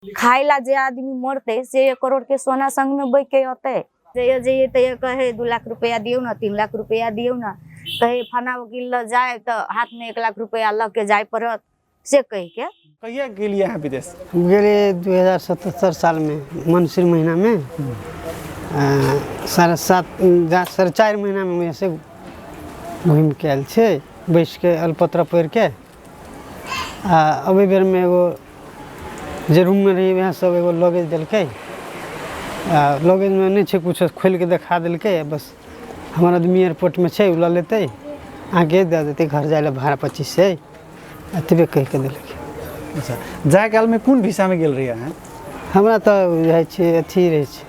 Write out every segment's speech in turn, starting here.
खाय ला जे आदमी मरते से एक करोड़ के सोना संग में बैठ के अते जइए जइए तैया कहे दू लाख रुपया दियो ना तीन लाख रुपया दियो ना कहे फना वकील ल जाए तो हाथ में एक लाख रुपया लग के जाए पड़त से कह के कहिया गेलिए अहाँ विदेश हम गेले दू हजार सतहत्तर सालमे मनसिर महिनामे आ, साढ़े सात जा साढ़े चारि महिनामे हम यहाँसँ घुमिके आयल छै बैसिके अलपत्र पढ़िके आ अबै बेरमे एगो जे रूममे रही वएह सब एगो लगेज देलकै आ लगेजमे नहि छै किछो खोलि कऽ देखा देलकै आ बस हमर आदमी एयरपोर्टमे छै ओ लऽ लेतै अहाँके दए देतै घर जाय लए भाड़ा पच्चीस छै एतबे कहि कऽ देलकै अच्छा जाय कालमे कोन भिसामे गेल रही अहाँ हमरा तऽ रहै छै अथी रहै छै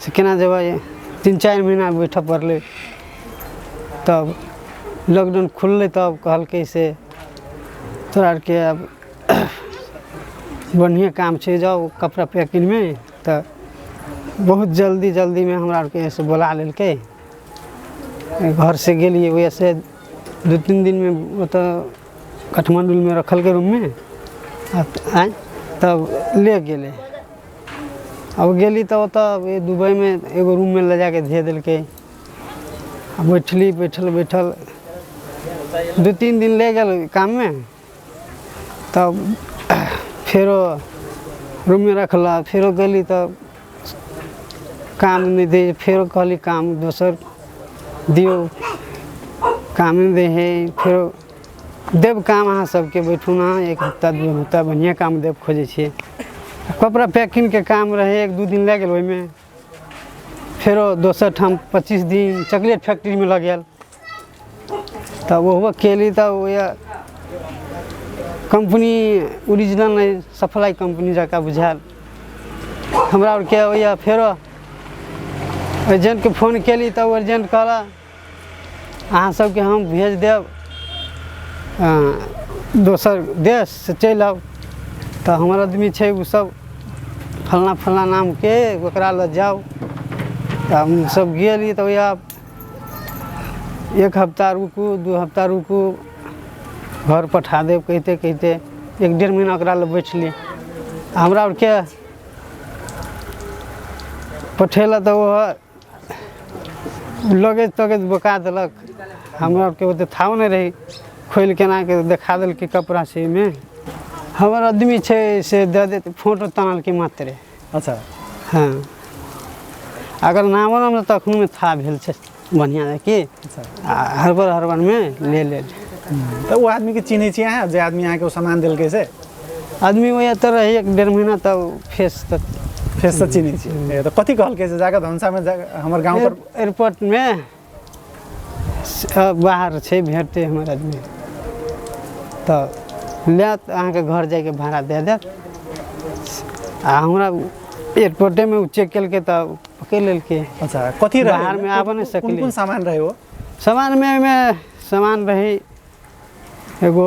से केना जेबै तीन चारि महीना बैठऽ पड़लै तब लॉकडाउन खुललै तब कहलकै से तोरा आरके आब बढ़िएँ काम छै जाउ कपड़ा पैकिंगमे तऽ बहुत जल्दी जल्दीमे हमरा आरके से बोला लेलकै घर से गेलियै वएह से दू तीन दिनमे ओतऽ काठमाण्डूमे रखलकै रूममे आ आँय तब ले गेलै अब गेली तऽ ओतऽ दुबइमे एगो रूममे लऽ जाके धे देलकै आ बैठली बैठल बैठल दू तीन दिन ले गेल काममे तब फेरो रूममे रखला फेरो गेली तऽ काम नहि दै फेरो कहली काम दोसर दियौ काम नहि दै हइ फेरो देब काम अहाँ सबके बैठू ना एक हफ्ता दू हफ्ता बढ़िया काम देब खोजै छियै कपड़ा पैकिंग के काम रहे एक दू दिन लग गेल ओहिमे फेरो दोसर ठाम पच्चीस दिन चॉकलेट फैक्ट्री में लग गेल तब ओहो केली तब वएह कंपनी ओरिजिनल नहि सप्लाई कंपनी जकाँ बुझायल हमरा आरके ओएह फेरो एजेंटके फोन केली तब एजेंट कहला अहाँ सबके हम भेज देब दोसर देश से चलि आउ तऽ हमर आदमी छै ओ सब फलना फलना नामके ओकरा लऽ जाउ तऽ हमसब गेली तऽ ओएह एक हफ्ता रुकू दू हफ्ता रुकू घर पठा देब कहिते कहिते एक डेढ़ महीना ओकरा लऽ बैठली हमरा आरके पठेलक तऽ ओहो लगैत तगैत बोका देलक हमरा आरके ओते थाव नहि रही खोलि केना के देखा देलकै कपड़ा से एहिमे हमर आदमी छै से दऽ देत फोटो तानलकै मात्रे अच्छा हँ अगर नामो नाम तऽ तखनमे था भेल छै बढ़िआँ रहै कि अच्छा आ हड़बड़ हड़बड़मे ले लेल तऽ ओ आदमीके चिन्है छियै अहाँ जे आदमी अहाँके ओ सामान देलकै से आदमी ओहि एतऽ रहै एक डेढ़ महीना तब फेस तक फेस से चिन्है छी ए, तऽ कथी कहलकै जे जाकऽ धनसामे जा हमर गाँव पर एयर- एयरपोर्टमे स- अ, बाहर छै भेटतै हमर आदमी तऽ लेत अहाँके घर जाइके भाड़ा दए देत आ हमरा एयरपोर्टेमे ओ चेक केलकै तऽ पकड़ि लेलकै अच्छा कथी रहै बाहरमे कोन- आबऽ नहि कोन- सकलै। कोन कोन सामान रहै ओ सामानमे ओहिमे सामान रहै एगो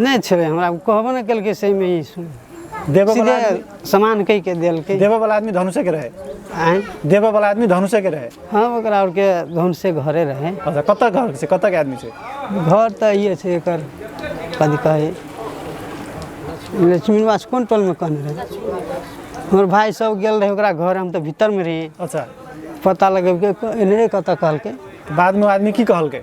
नहि छेबै हमरा ओ कहबो नहि केलकै सहीमे ई सुन देबऽ सीधे वाला आदमी- समान कहि के देलकै देबऽ वाला आदमी धनुषे के रहे आँय? देबऽ वाला आदमी धनुषे के रहे हँ ओकरा आरके धुन से घरे रहै अच्छा कतऽ घर से कतऽ के आदमी छै घर तऽ इहे छै एकर कथी कहै लक्ष्मी निवास कोन टोलमे कहने रहै हमर भाय सब गेल रहै ओकरा घर हम तऽ भीतरमे रही अच्छा पता लगेबके एने कतऽ कहलकै तऽ बादमे ओ आदमी की कहलकै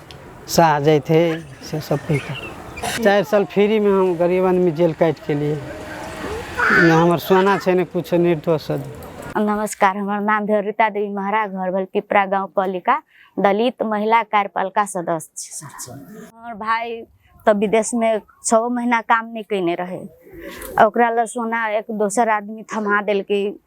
साह जाइत है से सब कहिता चारि साल फ्रीमे हम गरीब आदमी जेल काटि के लिए ने हमर सोना छै ने कुछ निर्दोष नमस्कार हमर नाम भेल रीता देवी महरा घर भेल पिपरा गाँव पालिका दलित महिला कार्यपालिका सदस्य छी सर अच्छा। हमर भाई तऽ विदेशमे छओ महीना काम नहि कयने रहै ओकरा लए सोना एक दोसर आदमी थमा देलकै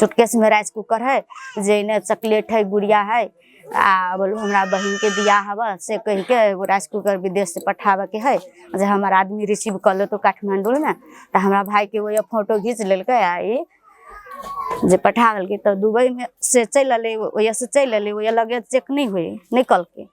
सूटकेसमे राइस कुकर हइ जाहिमे चॉकलेट हइ गुड़िया हइ आ बोलू हमरा बहिनके बियाह हबऽ से कहिके एगो राइस कुकर विदेशसँ पठाबयके हइ जे हमर आदमी रिसीव कऽ लेतौ काठमाण्डूमे तऽ हमरा भायके ओहे फोटो घीच लेलकै आ ई जे पठा देलकै तऽ दुबइमे से चलि अयलै ओहिसँ चलि अयलै ओहि लगेज चेक नहि होइ नहि कयलकै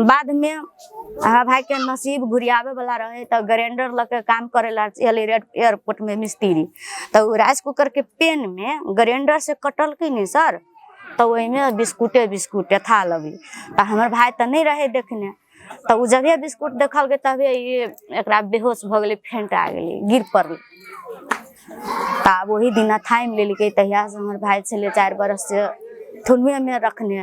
बादमे हमरा भायके नसीब घुरियाबैवला रहै तऽ ग्राइंडर लऽ कऽ काम करै लए चलि रेड एयरपोर्टमे मिस्त्री तऽ ओ राइस कुकरके पेनमे ग्राइंडरसँ कटलकै ने सर तऽ ओहिमे बिस्कुटे बिस्कुट यथा लगी तऽ हमर भाय तऽ नहि रहै देखने तऽ ओ जबे बिस्कुट देखलकै तबे ई एकरा बेहोश भऽ गेलै फेंटा गेलै गिर पड़लै तऽ आब ओही दिना थामि लेलकै तहियासँ हमर भाय छलै चारि बरससँ थुनुएमे रखने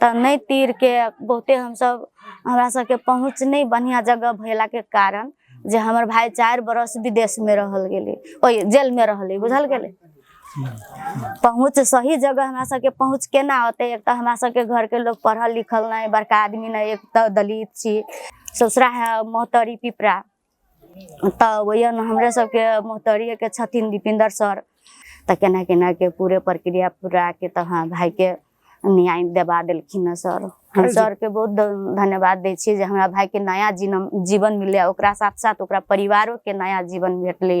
तऽ नहि तीर के बहुते हमसब हमरा सबके पहुँच नहि बढ़िया जगह भेला के कारण जे हमर भाई चारि बरस विदेश में रहल गेले ओहि जेल में रहले बुझल गेले पहुँच सही जगह हमरा सबके पहुँच केना होते एक तऽ हमरा सबके घर के लोग पढ़ल लिखल नहि बड़का आदमी नहि एक तऽ दलित छी ससुरा है मोहतरी पिपरा तऽ ओहि हमरे सबके मोहतरिये के छथिन दीपिंदर सर तऽ केना केना के पूरे प्रक्रिया पूरा के तऽ हाँ भाई के न्याय देवा देलखिन हँ सर हम सर के बहुत ध- धन्यवाद दै छियै जे हमरा भाई के नया जीवन जीवन मिललै ओकरा साथ साथ ओकरा परिवारो के नया जीवन भेटलै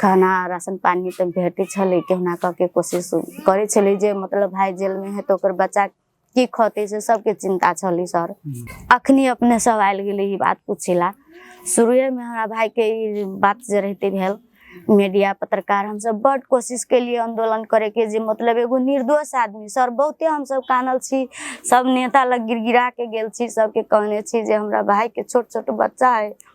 खाना राशन पानी तऽ भेटै छलै केहुना कऽ के कोशिश करै छलै जे मतलब भाय जेलमे है तऽ ओकर बच्चा की खतै से सबके चिन्ता छलै सर अखनी अपने सब आयल गेलै ई बात पूछे ला शुरुएमे हमरा भायके ई बात जे रहिते भेल मीडिया पत्रकार हमसब बड कोशिश केलिए आंदोलन करैके जे मतलब एगो निर्दोष आदमी सर बहुते हमसब कानल छी सब नेता लग गिरगिरा के गेल छी सबके कहने छी जे हमरा भायके छोट छोट बच्चा है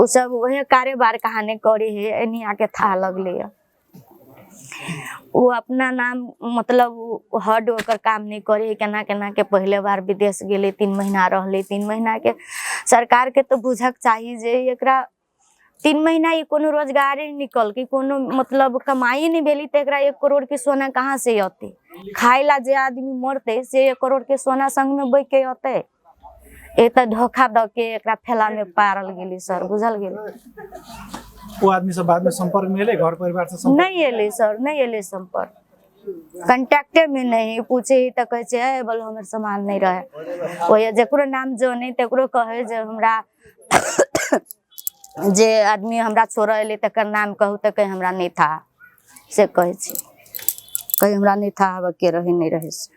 उ सब वही कारोबार कहाने करे है एनी आके था लगले है वो अपना नाम मतलब हड ओकर काम नहीं करे केना केना के पहले बार विदेश गेले तीन महीना रहले तीन महीना के सरकार के तो बुझक चाहिए जे एकरा तीन महीना ये कोनो रोजगार ही निकल के कोनो मतलब कमाई नहीं भेली तो एकरा एक करोड़ के सोना कहाँ से अते खाए ला जे आदमी मरते से एक करोड़ के सोना संग में बैठ के अते एत धोखा द के एकरा फैला में पारल गेली सर बुझल गेल वो आदमी से बाद में संपर्क में एले घर परिवार से संपर्क नहीं एले सर नहीं एले संपर्क कंटेक्टे में नहीं पूछे ही तो कहे छे "ए, बोल हमर सामान नहीं रहे ओए जेकरो नाम जाने तेकरो कहे जे हमरा जे आदमी हमरा छोड़ एले तकर नाम कहू तो कहे हमरा नहीं था से कहे छी कहे हमरा नहीं था आबे के रहे नहीं रहे से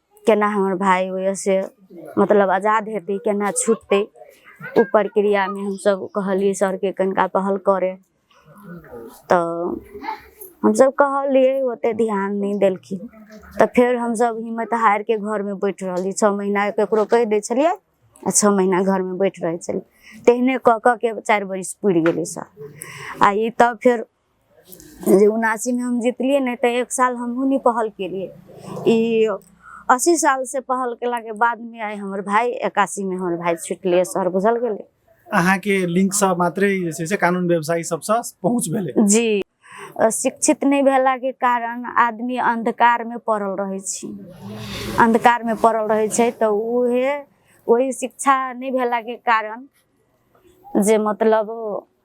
केना हमर भाय होइए से मतलब आजाद हेतै केना छुटतै ओ प्रक्रियामे हमसभ कहलियै सरके कनिका पहल करे तऽ हमसभ कहलियै ओतेक ध्यान नहि देलखिन तऽ फेर हमसभ हिम्मत हारि कऽ घरमे बैठ रहलियै छओ महीना ककरो कहि दै छलियै आ छओ महीना घरमे बैठ रहै छलियै तेहने कऽ कऽ के चारि बरिस पुरि गेलै सर आ ई तब फेर जे उनासीमे हम जीतलियै ने तऽ एक साल हमहूँ नहि पहल केलियै ई अस्सी सालसँ पहल केलाके बादमे आइ हमर भाय एकासीमे हमर भाय छुटलै शहर बुझल गेलै अहाँके लिङ्कसँ मात्रै जे छै से कानुन व्यवसायी सभसँ पहुँच भेलै जी अ, शिक्षित नहि भेलाके कारण आदमी अन्धकारमे पड़ल रहै छी अन्धकारमे पड़ल रहै छै तऽ उहे ओहि शिक्षा नहि भेलाके कारण जे मतलब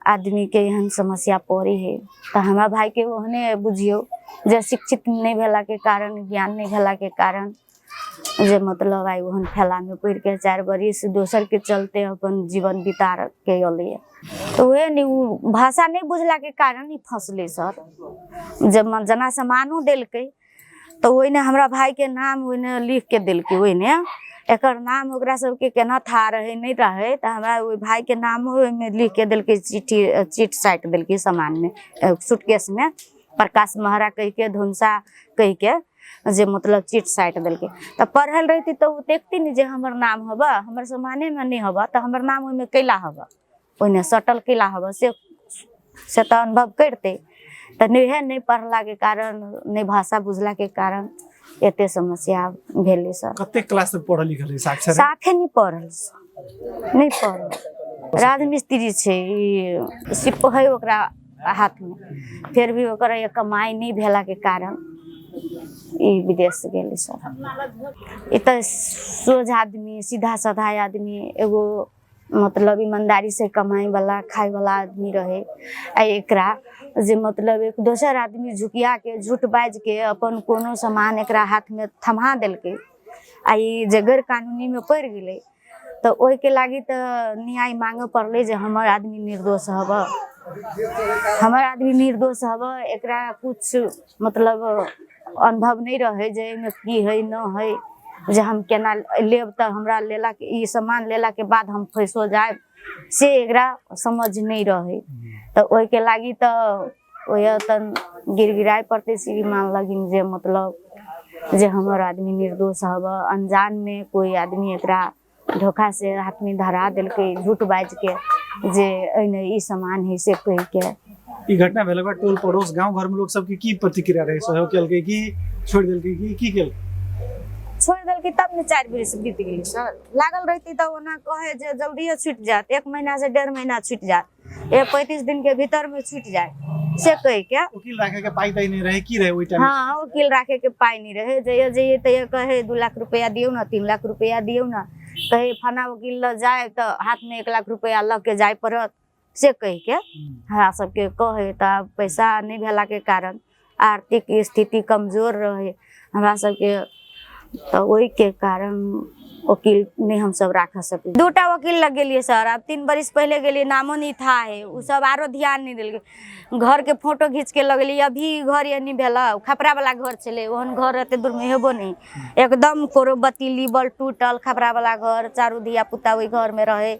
आदमीके एहन समस्या पड़ै हइ तऽ हमरा भायके ओहने बुझियौ जे शिक्षित नहि भेलाके कारण ज्ञान नहि भेलाके कारण जे मतलब आइ ओहन फैलामे पड़ि कऽ चारि बरिस दोसरके चलते अपन जीवन बिता के अयलैए तऽ उएह ने ओ भाषा नहि बुझलाके कारण ई फँसलै सर जे जेना सामानो देलकै तऽ ओहिने हमरा भायके नाम ओहिने लिख के देलकै ओहिने एकर नाम ओकरा सबके केना था रहै नहि रहै तऽ हमरा ओहि भायके नाम ओहिमे लिख के देलकै चिट्ठी चिट साटि देलकै सामानमे सूटकेसमे प्रकाश महरा कहिके धुनसा कहिके जे मतलब चिट साटि देलकै तऽ पढ़ल रहिती तऽ ओ देखती ने जे हमर नाम हबऽ हमर सामानेमे नहि हबऽ तऽ हमर नाम ओहिमे कैला हबऽ ओहिमे सटल किला हबऽ से से तऽ अनुभव करिते तऽ नहिए नहि पढ़लाके कारण नहि भाषा बुझलाके कारण एते समस्या भेलै सर कते क्लास में पढ़ल लिखल रही साक्षर साफे नहि पढ़ल सर। नहि पढ़ल राजमिस्त्री छै ई सिप है ओकरा हाथमे फेर भी ओकर ये कमाइ नहि भेलाके कारण ई विदेश गेलै सर ई तऽ सोझ आदमी सीधा साधा आदमी एगो मतलब ईमानदारी से कमाई वाला खाए वाला आदमी रहे आ एकरा जे मतलब एक दोसर आदमी झुकिया के झूठ बाज के अपन कोनो सामान एकरा हाथ में थमा देलकै आ ई जे गैर कानूनी में पड़ गेलै तऽ ओहिके लागी तऽ न्याय मांगे पड़लै जे हमर आदमी निर्दोष हबऽ हमर आदमी निर्दोष हबऽ एकरा कुछ मतलब अनुभव नहि रहै जे एहिमे की हइ न हइ जे हम केना लेब तऽ हमरा लेला ई सामान लेलाके बाद हम फैसो जायब से एकरा समझ नहि रहै तऽ ओहिके लागि तऽ ओह तन गिड़गिड़ाय पड़तै श्रीमान लगिन जे मतलब जे हमर आदमी निर्दोष हबऽ अनजानमे कोइ आदमी एकरा धोखा से हाथमे धरा देलकै झूठ बाजि के जे एहिमे ई सामान है से कहि के ई घटना भेला बाद टोल पड़ोस गांव घर में लोग सबके की प्रतिक्रिया रहे सहयोग केलकै कि छोड़ देलकै कि की केलकै छोड़ देलकै तब ने चारि बरिस बीत गेलै सर लागल रहितै तऽ ओना कहै जे जल्दिए छुटि जायत एक महीना से डेढ़ महीना छुटि जायत ए पैंतीस दिन के भीतर में छूट जाए से कह के वकील राखे के पाई तई नहीं रहे की रहे ओई टाइम हाँ वकील राखे के पाई नहीं रहे जइयो जइयो तैयो कहे दू लाख रुपया दियो ना तीन लाख रुपया दियो ना कहे फना वकील ल जाए तो हाथ में एक लाख रुपया लग के जाए पड़त से कह के हमरा सबके कहे तऽ आब पैसा नहि भेला के कारण आर्थिक स्थिति कमजोर रहै हमरा सबके तऽ ओहिके कारण वकील नहि हमसब राख सकै दू टा वकील लग गेलियै सर आब तीन बरिस पहिले गेलियै नामो नहि था है ओ सब आरो ध्यान नहि देलकै घरके फोटो घीच के लगलियै अभी घर ये नहि भेला खपड़ा वाला घर छलै ओहन घर एते दूर में हेबो नहि एकदम कोरो बतीली बल टूटल खपड़ा वाला घर चारू धिया पुता ओहि घर में रहे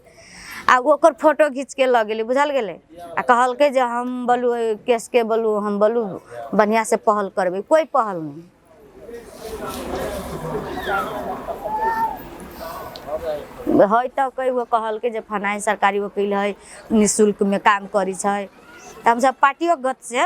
आ ओकर फोटो घीच के लऽ गेली बुझल गेलै आ कहलकै जे हम बोलू एहि केस के बोलू हम बोलू बढ़िया से पहल करबै कोई पहल नहीं है तऽ कई गो कहलकै जे फलाँ सरकारी वकील है निःशुल्क में काम करै छै तऽ हमसब पार्टियो गत से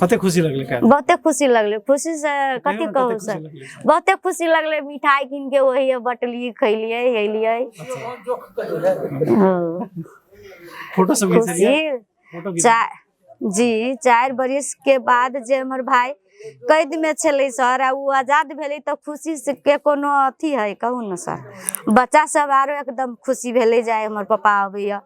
कते खुशी लगले का बहुते खुशी लगले खुशी से कथी कते कहू खुशी सर लगले? बहुते खुशी लगले मिठाई कीन के वही बटलिए खैलिए हेलिए हाँ, फोटो सब खींच लिया खुशी फोटो खींच चा जी चारि बरिस के बाद जे हमर भाई कैद में छलै सर आ ओ आजाद भेलै तऽ खुशी से के कोनो अथी है कहू ने सर बच्चा सब आरो एकदम खुशी भेलै जे आइ हमर पापा अबैया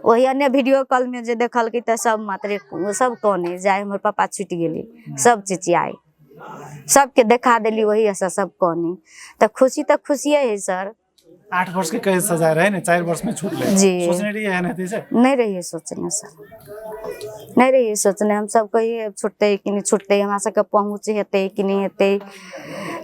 ओहि अन्य वीडियो कॉल में जे देखलकै तऽ सब मात्रे सब कने जाय हमर पापा छुटि गेली सब चिचियाई सबके देखा देली वही ऐसा सब कने तऽ खुशी तऽ खुशिये है सर आठ वर्ष के कैद सजा रहे ने चार वर्ष में छूट ले जी। सोचने रही है ना से नहीं रहिए सोचने सर नहीं रहिए सोचने हम सब कहिए छुटते कि नहीं छुटते हमरा सबके पहुँच हेतै कि नहीं हेतै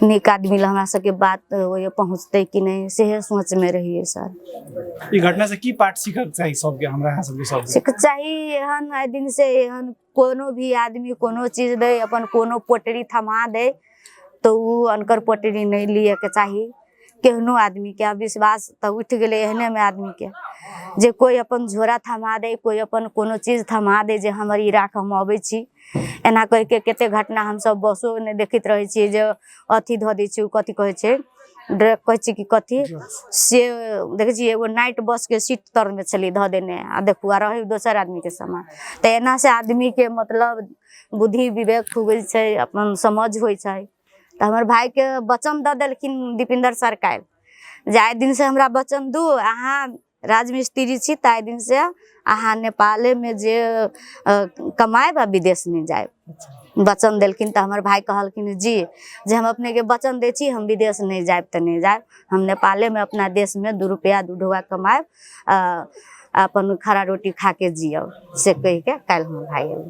नीक आदमी लग हमरा सबके बात ओहिए पहुँचतै कि नहि सेहे सोचमे रहियै सर ई घटना से की पाठ सीखक चाही सबके हमरा यहाँ सबके सबके सीख चाही एहन आइ दिन से एहन कोनो भी आदमी कोनो चीज दै अपन कोनो पोटरी थमा दै तऽ ओ अनकर पोटरी नहि लियैके चाही केहनो आदमीके आब विश्वास तऽ उठि गेलै एहनेमे आदमीके जे कोइ अपन झोरा थमा दै कोइ अपन कोनो चीज थमा दै जे हमर ई राख हम अबै छी एना कहिके कते घटना हमसब बसो नहि देखैत रहै छियै जे अथी धऽ दै छै ओ कथी कहै छै ड्रैग कहै छै कि कथी से देखै छियै एगो नाइट बसके सीट तरमे छलै धऽ देने आ देखू आ रहै दोसर आदमीके समान तऽ एना से आदमीके मतलब बुद्धि विवेक खुगै छै अपन समझ होइ छै तऽ हमर भायके वचन दऽ देलखिन दीपिंदर सर काल्हि जे आइ दिनसँ हमरा वचन दू अहाँ राजमिस्त्री छी तऽ आइ दिनसँ अहाँ नेपालेमे जे कमायब आ विदेश नहि जायब वचन देलखिन तऽ हमर भाय कहलखिन जी जे हम अपनेके वचन दै छी हम विदेश नहि जायब तऽ नहि जायब हम नेपालेमे अपना देशमे दू रुपैआ दू ढोआ कमायब अपन खड़ा रोटी खा कऽ जियब से कहि कऽ काल्हि हमर भाय एलै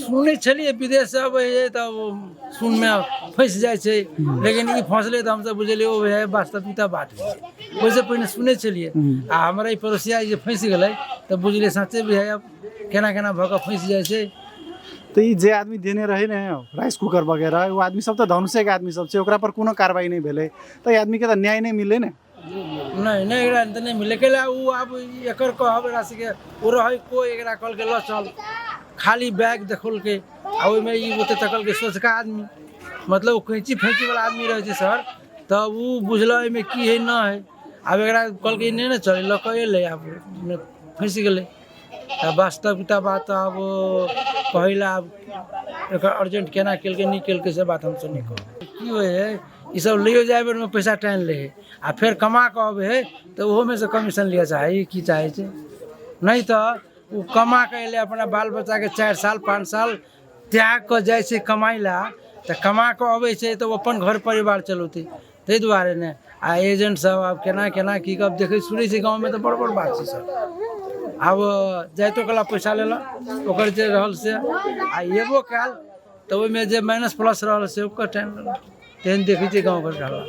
सुनै छलियै विदेश से अबै है तऽ ओ सुन में फंस जाय छै लेकिन ई फंसले तऽ हमसब बुझलियै ओ है वास्तविकता बात है ओहिसँ पहिने सुनै छलियै आ हमरा ई पड़ोसिया जे फंसि गेलै तऽ बुझलियै सच्चे भी है अब केना केना भऽ कऽ फंसि जाइ छै तऽ ई जे आदमी देने रहै ने राइस कुकर वगैरह ओ आदमी सब तऽ धनुषेके आदमी सब छै ओकरा पर कोनो कार्रवाई नहि भेलै तऽ ई आदमीके तऽ न्याय नहि मिललै ने नहि नहि एकरा तऽ नहि मिललै कैला ओ आब एकर कहब एकरा सबके ओ रहै कोइ एकरा कहलकै लऽ चल खाली बैग देखलकै आ ओहिमे ई ओते तकलकै सोचका आदमी मतलब ओ कैंची फैंची वाला आदमी रहै छै सर तऽ ओ बुझल एहिमे की है न है आब एकरा कहलकै नहि ने चल लऽ कऽ एलै आब फँसि गेलै तऽ वास्तविकता बात आब पहिल आब एकर अर्जेंट केना केलकै नहि केलकै से बात हमसभ नहि कहब की होइ हइ ई सभ लैयो जाइ बेरमे पैसा टानि लै हइ आ फेर कमा कऽ अबै हइ तऽ ओहोमे सँ कमीशन लिअ चाहै हइ की चाहै छै नहि तऽ ओ कमा कऽ अयलै अपना बाल बच्चाके चारि साल पाँच साल त्याग कऽ जाइ छै कमाइ लए तऽ कमा कऽ अबै छै तऽ ओ अपन घर परिवार चलौतै ताहि दुआरे ने आ एजेंट सब आब केना केना की कब देखै सुनै छै गाँव मे तऽ बड़ बड़ बात छै सर आब जाइतो कला पैसा लेलक ओकर जे रहल से आ एबो कयल तऽ ओहिमे जे माइनस प्लस रहल से ओकर टाइम लेलक तेहन देखै छियै गाँव घर के हालात